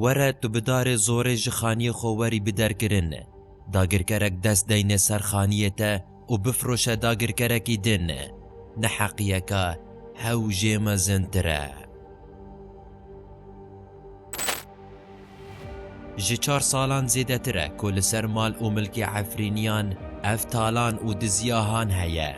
Were tu bi darê zorê ji xaniyê xwe werî bi derkirin. Dagirkerek dest deyne ser xaniyê te û bifroşe dagirkerekî din. Neheqiyeke hewjê mezintir e. Ji çar salan zêdetir e ku li ser mal û milkê Efrîniyan ev talan û dizîahan heye.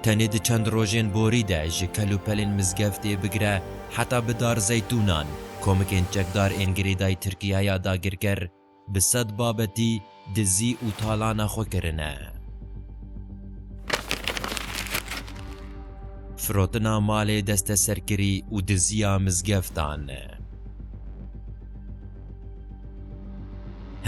Tenê di çend rojên borî de ji kelûpelên mizgeftê bigire heta bi dar zeytûnan, komikên çekdar ên girêdayî Tirkîyeya dagirker Bi sed babetî dizî û talana xwe kirine. Firotina malê desteserkirî û diziya mizgeftan.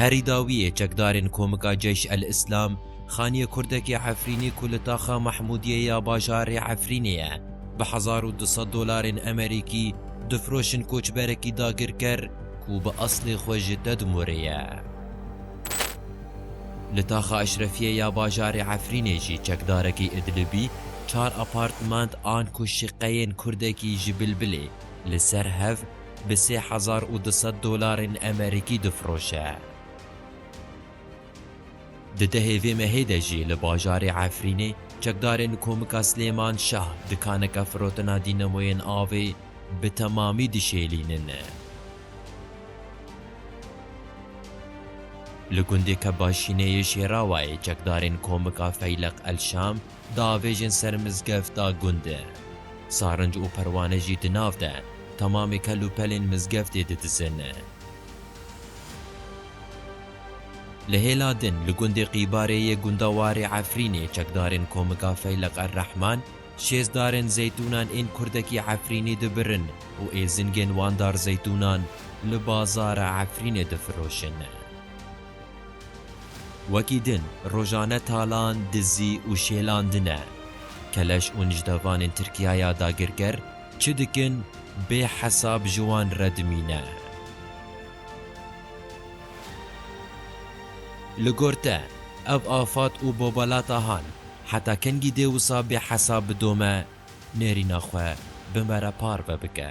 Herî dawiyê çekdarên Komika Ceyş El Îslam xaniyê kurdekî Efrînî ku li taxa Mahmûdiyê ya bajarê Efrînê ye bi hezar û du sed dolarên emerîkî difroşin koçberekî dagirker, Ku bi eslê xwe ji Tedmurê ye. Li Taxa Eşrefiyê ya bajarê Efrînê jî çekdarekî Idlibî çar apartment an ku şiqeyên kurdekî ji Bilbilê li ser hev bi sê hezar û du sed dolarên emerîkî difiroşe. Di dehê vê mehê de jî li bajarê Efrînê çekdarên Komika Silêman Şah dikaneke firotina dînemoyên avê bi temamî dişêlînin. Li gundê Kebaşînê yê Şêrawayê çekdarên Komika Feyleq El Şam diavêjin ser mizgefta gunde. Sarinc û perwane jî di nav de temamê kel û pelên mizgeftê didizin. Li hêla din li gundê Qîbarê yê gunda Warê Efrînê çekdarên Komika Feyleq Er-Rehman şêst darên zeytûnan ên kurdekî Efrînî dibirin û êzingên wan dar zeytûnan li bazara Efrînê difiroşin. Wekî din rojane talan, dizî û şêlandine. Keleş û nijdevanên Tirkiyaya dagirker çi dikin bê hesab ji wan re dimîne. Li gor te, ev afat û bobalata han heta kengî dê wisa bê hesab bidome, nêrîna xwe bi me re parve bike.